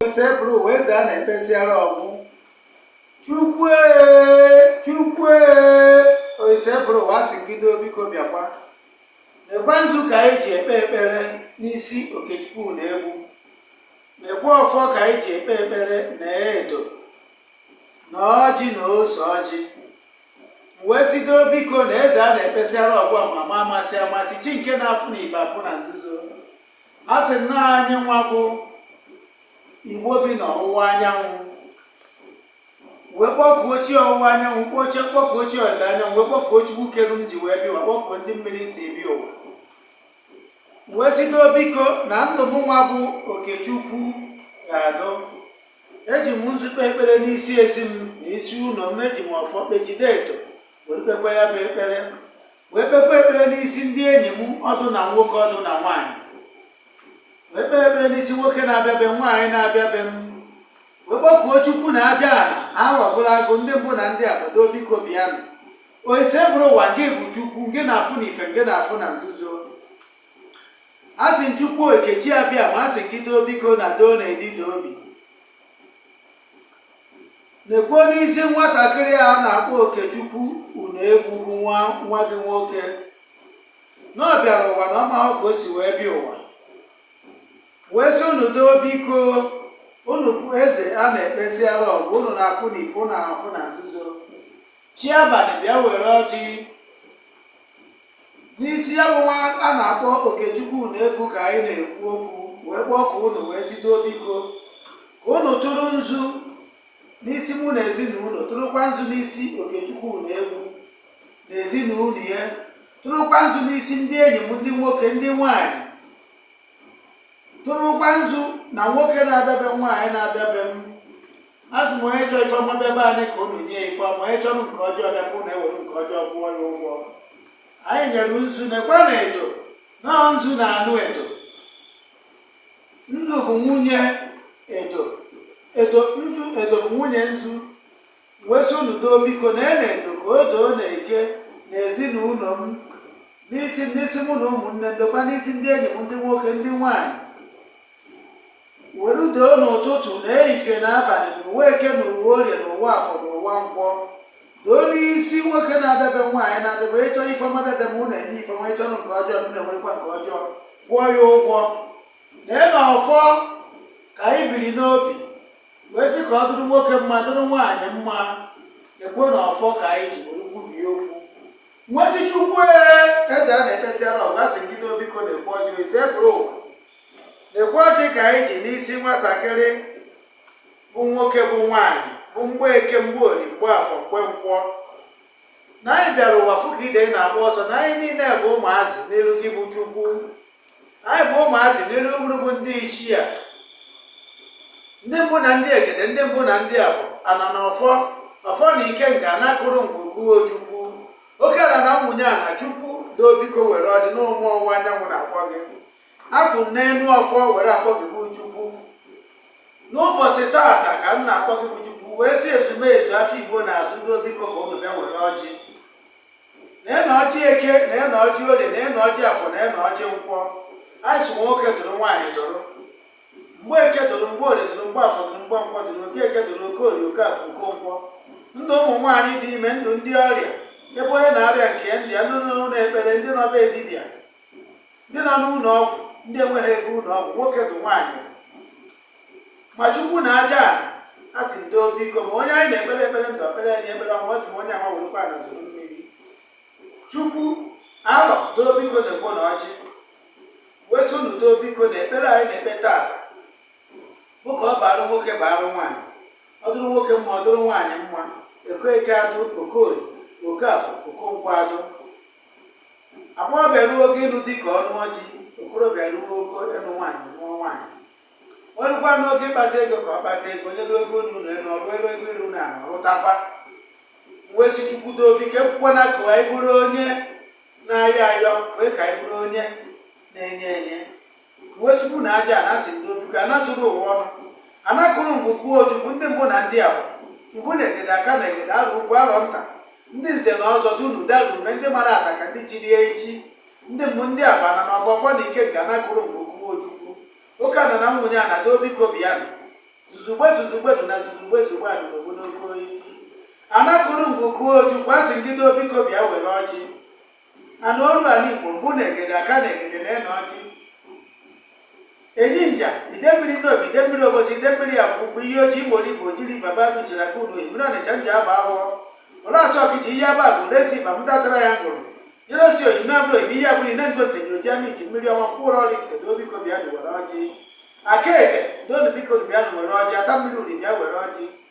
Osebụrụ ụwa eze a na-ekpesịara ọ gwụ chukwue chukwue osebụrụ ụwa asị m gị doo biko bịakwa lekwa nzu ka anyị ji ekpe ekpere n'isi okechukwu unegbu lekwa ọfọ ka anyị ji ekpe ekpere na edo na ọjị na ose ọjị wee sị doo biko na eze a na-ekpesịara ọ gwụ amama amasị amasị chi nke na-afụ na ife afụ na nzuzo A sị na anyị nwa bụ Igbo bi n'ọwụwa anyanwụ wee kpọkuo chi ọwụwa anyanwụ kpọkuo chi ọdịda anyanwụ wee kpọkuo chukwu kere m ji wee bịa ụwa kpọkuo ndị mmiri si ebi ụwa wee sị doo biko na ndụ m nwa bụ okechukwu ga-adụ eji m nzu ekpe ekpere n'isi ezi m na isi ụlọ m eji m ọfọ ekpe jide edo were kpekwa ya bụ ekpere wee kpekwa ekpere n'isi ndị enyi m ọ dụ na nwoke ọ dụ na nwaanyị wee kpee ekpere n'isi nwoke na-abịa be m nwaanyị na-abịa be m wee kpọkuo chukwu na aja ala aghọ bụrụ agụ ndị mbụ na ndị abụọ doo biko bịanụ oise bụrụ ụwa nke bụ chukwu nke na-afụ na ife nke na-afụ na nzuzo asị m chukwu okechi abịama asị m gị doo biko na doo na edi doo obi na-ekwu n'isi nwatakịrị a na-akpọ Okechukwu Unegbu bụ nwa nwa gị nwoke na ọ bịara ụwa na ọ mahụ ka o si wee bịa ụwa wee sị unu doo biko unu bụ eze a na-ekpesiara ọ gwụ unu na-afụ na ife na-afụ na nzuzo chi abalị bịa were ọjị n'isi ya bụ nwa a na-akpọ okechukwu unegbu ka anyị na-ekwu okwu wee kpọkuo unu wee sị doo biko ka unu tụrụ nzu n'isi mụ na ezinụlọ tụrụkwa nzu n'isi okechukwu unegbu na ezinụlọ ya tụrụkwa nzu n'isi ndị enyi m ndị nwoke ndị nwanyị tụrụkwa nzu na nwoke na-abịa be m nwaanyị na-abịa be m asị m onye chọrọ ife ọma bịa be anyị ka unu nye ife ọma onye chọrọ nke ọjọọ bịa ka unu ewere nke ọjọọ kwụọ ya ụgwọ anyị nyere nzu nekwa na edo na nzu na-anụ edo nzu bụ nwunye edo edo nzu edo bụ nwunye nzu wee sị unu doo biko na ena edo ka o doo na eke na ezinụlọ m n'isi n'isi mụ na ụmụnne m dokwa n'isi ndị enyi m ndị nwoke ndị nwaanyị were doo n'ụtụtụ na ehihie na abalị na ụwa eke na ụwa orie na ụwa afọ na ụwa nkwọ doo n'isi nwoke na-abịa be m nwaanyị na-abịa be m onye chọrọ ife ọma bịa be m unu enye ife ọma onye chọrọ nke ọjọọ unu ewerekwa nke ọjọọ kwụọ ya ụgwọ lee na ọfọ ka anyị biri n'obi wee sị ka ọ dụrụ nwoke mma dụrụ nwaanyị mma ekwe na ọfọ ka anyị ji were kwubie okwu wee sị chukwu eze a na-ekpesịara ọ gwụ asị m gị doo biko nekwa ọjị oise bụrụ ụwa Lekwa ọjị ka anyị ji n'isi nwatakịrị bụ nwoke bụ nwaanyị bụ mgbe eke mgbe orie mgbe afọ mgbe nkwọ na anyị bịara ụwa fụ ka ide na-agba ọsọ na anyị niile bụ ụmụazị n'iru gị bụ Chukwu anyị bụ ụmụazị n'iru unu bụ ndị ichie a ndị mbụ na ndị egede ndị mbụ na ndị abụa ana na ọfọ ọfọ na ikenga ana kụrụ ngwu kụọ ojukwu oke ana na nwunye ana chukwu doo biko were ọjị na ụmụ ọwụwa anyanwụ na-akpọ gị Akwụ m n'elu ọfọ were akpọ gị bụ Chukwu. N'ụbọchị taata ka m na-akpọ gị bụ Chukwu wee sị ezumezu afịa Igbo na-azụ doo biko ka ụnụ bịa were ọjị. Neenụ ọjị eke, neenụ ọjị orie, neenụ ọjị afọ, neenụ ọjị nkwọ. Anyị sụ nwoke dụrụ nwaanyị dụrụ. Mgbe eke dụrụ, mgbe orie dụrụ, mgbe afọ dụrụ, mgbe nkwọ dụrụ, oke eke dụrụ, oke orie, oke afọ, oke nkwọ. Ndụ ụmụ nwaanyị dị ime, ndụ ndị ọrịa, ebe onye na-arịa nke ya ndị nọ n'ụnọ ekpere ndị nọ be dibịa ndị nọ n'ụlọ ọgwụ ndị enweghị ego ụlọ ọgwụ nwoke dụ nwaanyị ma chukwu na aja ana asị m doo biko ma onye anyị na-ekpere ekpere ndụ ekpere anyị ekpere ọnwụ ọ sị ma onye ama werekwa ana zere mmiri chukwu alọ doo biko nekwanụ ọjị wee sị unu doo biko na ekpere anyị na-ekpe taata bụ ka ọ barụ nwoke barụ nwaanyị ọ dụrụ nwoke mma ọ dụrụ nwaanyị mma okeke adụ okorie okafọ okonkwọ adụ agbọghọbịa ruo oge ịlụ di ka ọ lụọ di okorobịa ruo oge ịlụ nwaanyị lụọ nwaanyị o rukwanụ oge ịkpata ego ka ọ kpata ego onye ruo ego ụnọ elu ọ rụọ ebe ego ịrụ ụnọ ala rụtakwa wee sị chukwu doo biko ekwekwana ka anyị bụrụ onye na-ayọ ayọ kwe ka anyị bụrụ onye na-enye enye Igwe chukwu na aja ana asị m doo biko ana zuru ụwa ọnụ. Ana kụrụ ngwu kụọ ojukwu ndị mbụ na ndị abụa. Mbụ na egede aka na egede arọ ukwu arọ nta. Ndị nze na ọzọ dunu dara ume ndị mara ataka ndị chiri echi. Ndị mbụ ndị abụa ana na ọfọ ọfọ na ikenga ana kụrụ ngwu kụọ ojukwu. Oke ana na nwunye ana doo biko bịanụ. Zuzugbe zuzugbe dị na zuzugbe zugbe anụ n'obodo oke isi. Ana kụrụ ngwu kụọ ojukwu asị m gị doo biko bịa were ọjị. ana oru ana Igbo mbụ na egede aka na egede neenụ ọjị enyi nja idemmiri nnobi idemmiri obosi idemmiri akwụkwụ iyi ọjị imo igbo jiri baba bichiri aka unu mmiri ọnịcha njaba awọ ụlasị ọkịja haba agụlụ esi ma mdatara ya ngụrụ nyere osi oyi na abụrụ ebe ihe abụrụ nengo nteje oji ama iti mmiri ọnwa mkpụrụ ọraifite doo biko bịanụ were ọjị aka eke doonụ biko bịanụ were ọjị ata mmiri uri bịa were ọjị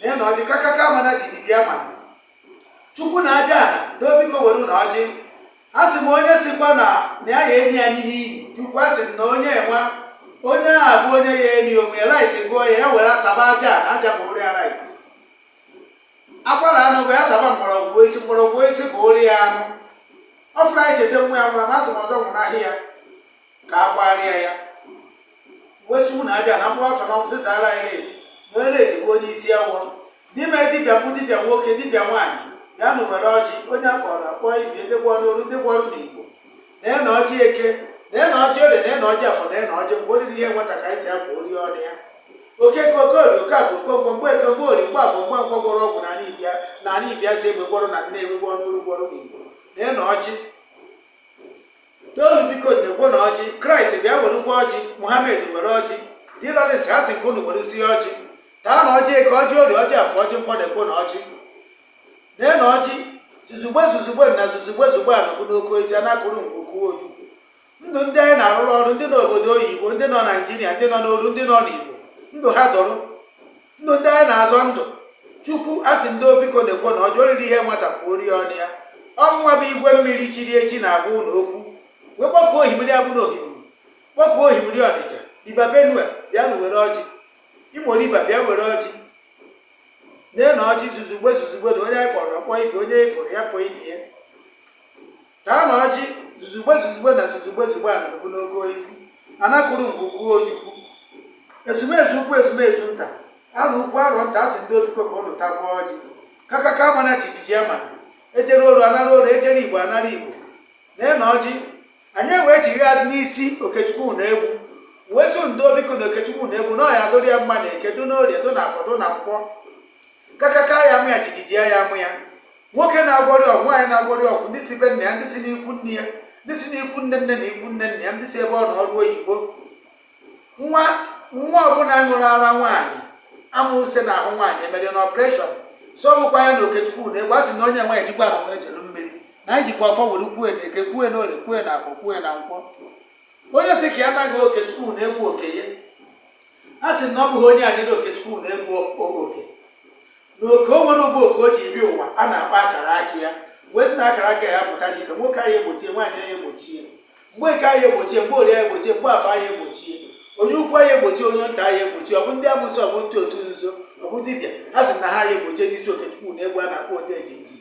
nee nụ ọjị kakaka mana jijiji ama chukwu na aja ana ndo biko werenụ ọjị a sị m onye sikwa na na ya ya eri anyị n'iyi chukwu a sị m na onye enwa onye a bụ onye ya eri onwe rice gụọ ya ya were taba aja ala aja bụrụ ya rice akwara anụ gụọ ya taba mgbọrọgwụ osisi mgbọrọgwụ osisi bụrụ ya anụ ọ fụrụ anyị cheta nwa ya nwụrụ ma a sị m ọzọ nwụnahị ya ka a kwarịa ya wee chukwu na aja na mkpụrụ afọ na ọnwụ sịsa ara anyị na-eti na onye na-eti bụ onye isi awọ n'ime dibịa mbụ dibịa nwoke dibịa nwaanyị bịanụ were ọjị onye a kpọrọ ọ kpọ ibe ndị gwọrọ n'olu ndị gwọrọ n'igbo nee nụ ọjị eke nee nụ ọjị orie nee nụ ọjị afọ nee nụ ọjị nkwọ oriri ihe nwata ka anyị si akwa ori ọnụ ya okeke okorie okafọ okonkwọ mgbeke mgborie mgbafọ mgbọkwọ gwọrọ ọgwụ na ala ibia na ala ibia si egbe gwọrọ na nne egbe gwọrọ n'olu gwọrọ n'igbo nee nụ ọjị toonu biko nekwa nụ ọjị kraịst bịa werekwa ọjị muhammed were ọjị de laurence a sị nke unu were sie ọjị taanụ ọjị eke ọjị orie ọjị afọ ọjị nkwọ nekwa nụ ọjị nee nụ ọjị zuzugbe zuzugbe na zuzugbe zugbe a nọbụ n'oke ozi a na-akụrụ nke ukwuu oju ndụ ndị anyị na-arụrụ ọrụ ndị nọ obodo oyibo ndị nọ naijiria ndị nọ n'olu ndị nọ n'igbo ndụ ha dụrụ ndụ ndị anyị na-azọ ndụ chukwu a sị ndo biko nekwa nụ ọjị oriri ihe nwata kwuo ori ọnụ ya ọnwa bụ igwe mmiri chiri echi na-agwa ụlọ okwu wee kpọkuo ohimiri abụ na ohimiri kpọkuo ohimiri ọnịcha riva benue bịanụ were ọjị imo riva bịa were ọjị nee nụ ọjị zuzugbe zuzugbe na onye anyị kpọrọ ọ kpọ ibe onye e foro ya fo ibe ya taanụ ọjị zuzugbe zuzugbe na zuzugbe zugbe a nọdụbụ n'oke isi anakụrụ mgbe ukwu ojukwu ezumezu ukwu ezumezu nta arọ ukwu arọ nta a sị ndo biko ka ụnụ takwa ọjị kakaka mana jijiji ama ejere oru anara oru ejere igbo anara igbo lee nụ ọjị anyị ewee chigharị n'isi okechukwu na egwu wetu ndo biko na okechukwu na egwu na ọ ya-adụrụ ya mma na eke dụ n'orie dụ na afọ dụ na nkwọ kakaka ya mụ ya jijiji ya ya mụ ya nwoke na-agwọrị ọgwụ nwaanyị na-agwọrị ọgwụ ndị si be nna ya ndị si n'ikwu nne ya ndị si n'ikwu nne nne na ikwu nne nna ya ndị si ebe ọ nọ ọrụ oyibo nwa nwa ọbụla ṅụrụ ara nwaanyị a mụsị n'ahụ nwaanyị emere na ọpụreshọn so ọ bụkwa ya na okechukwu na egwu a sị na onye nwaanyị jikwa na nwa ejelu mmiri na anyị jikwa ọfọ were kwue na eke kwue na orie kwue na afọ kwue na nkwọ onye sị ka ya naghị okechukwu na egwu oke ya a sị na ọ bụghị onye adịrị okechukwu na egwu o- oke na oke o nwere ụgbọ oke o ji bịa ụwa a na-akpọ akara aka ya wee sị na akara aka ya pụta n'ife nwoke anyị egbochie nwaanyị anyị egbochie mgbeke anyị egbochie mgborie anyị egbochie mgbafọ anyị egbochie onye ukwu anyị egbochie onye nta anyị egbochie ọ bụ ndị amụsị ọ bụ ndị otu nzuzo ọ bụ dibịa ha sị na ha anyị egbochie n'isi okechukwu na egwu a na-akpọ odejimjim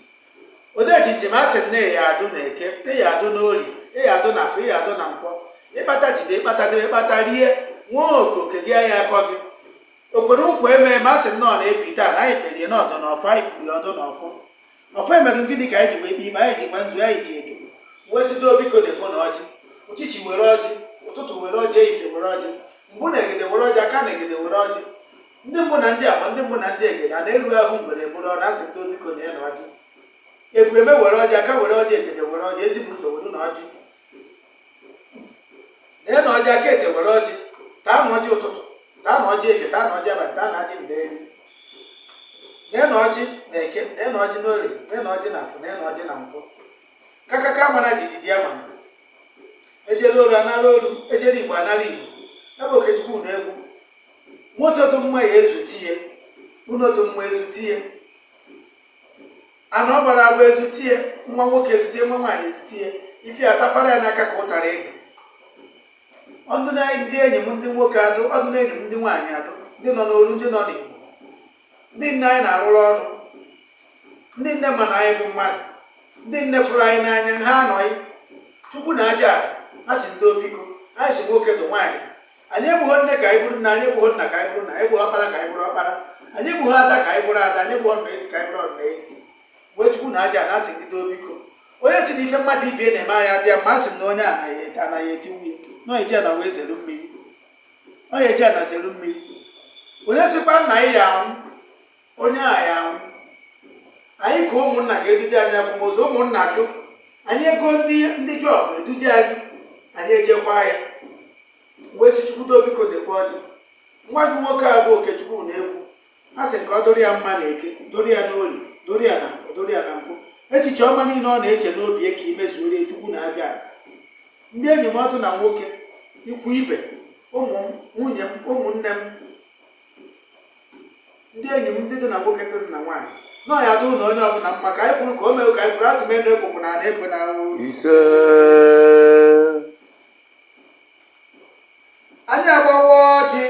odejimjim a sị na ị ya-adụ na eke ị ya-adụ na orie ị ya-adụ na afọ ị ya-adụ na nkwọ ị kpata jide ị kpata debe ị kpata rie nwoke oke gị aya akọ gị o kwere ụkwụ eme ma a sị nnọọ na ebi taa na anyị kperie na ọ dụ na ọfọ anyị kwuru ya ọ dụ na ọfọ na ọfọ emerụ gịnị ka anyị ji wee kpe ikpe anyị ji gba nzu anyị ji edo wee sị doo biko na-ekpo na ọjị uchichi were ọjị ụtụtụ were ọjị ehihie were ọjị mbụ na egede were ọjị aka na egede were ọjị ndị mbụ na ndị agba ndị mbụ na ndị egede a na-eru ahụ mgbere bụrụ ọ na-asị doo biko na ya na ọjị egwu eme were ọjị aka were ọjị egede were ọjị ezigbo ụzọ were na ọjị lee na ọjị aka ete were ọjị taa na ọjị ụtụtụ taa na ọjị efe taa na ọjị abalị taa na ọjị mgbe eri lee na ọjị na eke lee na ọjị n'orie lee na ọjị na afọ lee na ọjị na nkwọ kakaka mara jijiji ya mana ejere olu anara olu ejere igbo anara igbo ebe okechukwu na egwu moto dị mma ya ezute ya ụlọ dị mma ezute ya ana ọ gbara agba ezutie nwa nwoke ezutie nwa nwaanyị ezutie ife atapara ya n'aka ka ụtara ede ọ dụ na ndị enyi m ndị nwoke adụ ọ dụ na enyi m ndị nwaanyị adụ ndị nọ n'olu ndị nọ n'igbo ndị nine anyị na-arụrụ ọrụ ndị nine ma na anyị bụ mmadụ ndị nine fụrụ anyị n'anya ha anwụghị chukwu na aja a sị doo biko anyị sị nwoke dụ nwaanyị anyị egbugho nne ka anyị bụrụ nne anyị egbugho nna ka anyị bụrụ nna anyị egbugho ọkpara ka anyị bụrụ ọkpara anyị egbugho ada ka anyị bụrụ ada anyị egbugho ọdụna eti ka anyị bụrụ ọdụna eti wee chukwu na aja na-asị ndị doo biko onye sị na ife mmadụ ibe na-eme anaghị adị ya mma a sị na onye anaghị ete anaghị eti nwunye na onye ji ana wee zere mmiri onye ji ana zere mmiri onye sịkwa na anyị ya anwụ onye a ya anwụ anyị ka ụmụnna ga-eduje anyị akwamozu ụmụnna jụ anyị ego ndị jọb eduje anyị anyị ejekwa ya wee sị chukwu doo biko lekwa ọjị nwa gị nwoke a bụ okechukwu na-ekwu a sị ka ọ dụrụ ya mma na eke dụrụ ya n'olie dụrụ ya na afọ dụrụ ya na nkwọ echiche ọma niile ọ na-eche n'obi ya ka i mezuoro ya chukwu na aja ala ndị enyi m ọ dụ na nwoke ikwu ibe ụmụ m nwunye m ụmụnne m ndị enyi m ndị dị na nwoke ndị dị na nwaanyị na ọ ya adụ na onye ọbụla mma ka anyị kwuru ka o mee ka anyị kwuru asị m enu ekwekwa na ana ekwe na ọ wụ ise anyị agbawa ọjị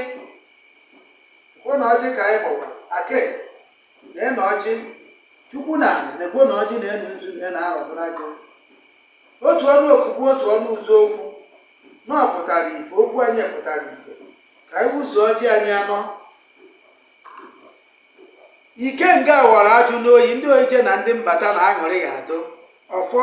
kwuo na ọjị ka anyị gbawa ake na na ọjị chukwu na ala na-ekwu na ọjị na-enu nzu na na-arọbụrụ agụ Otu ọnụ okwu bụ otu ọnụ ụzọ. Okwu unu pụtara ife, okwu anyị pụtara ife. Ka anyị ụzọ ọjị anyị anọ. Ikenga ghọrọ ajụ n'oyi, ndị ojije na ndị mbata na aṅụrị ya adụ. Ọfọ.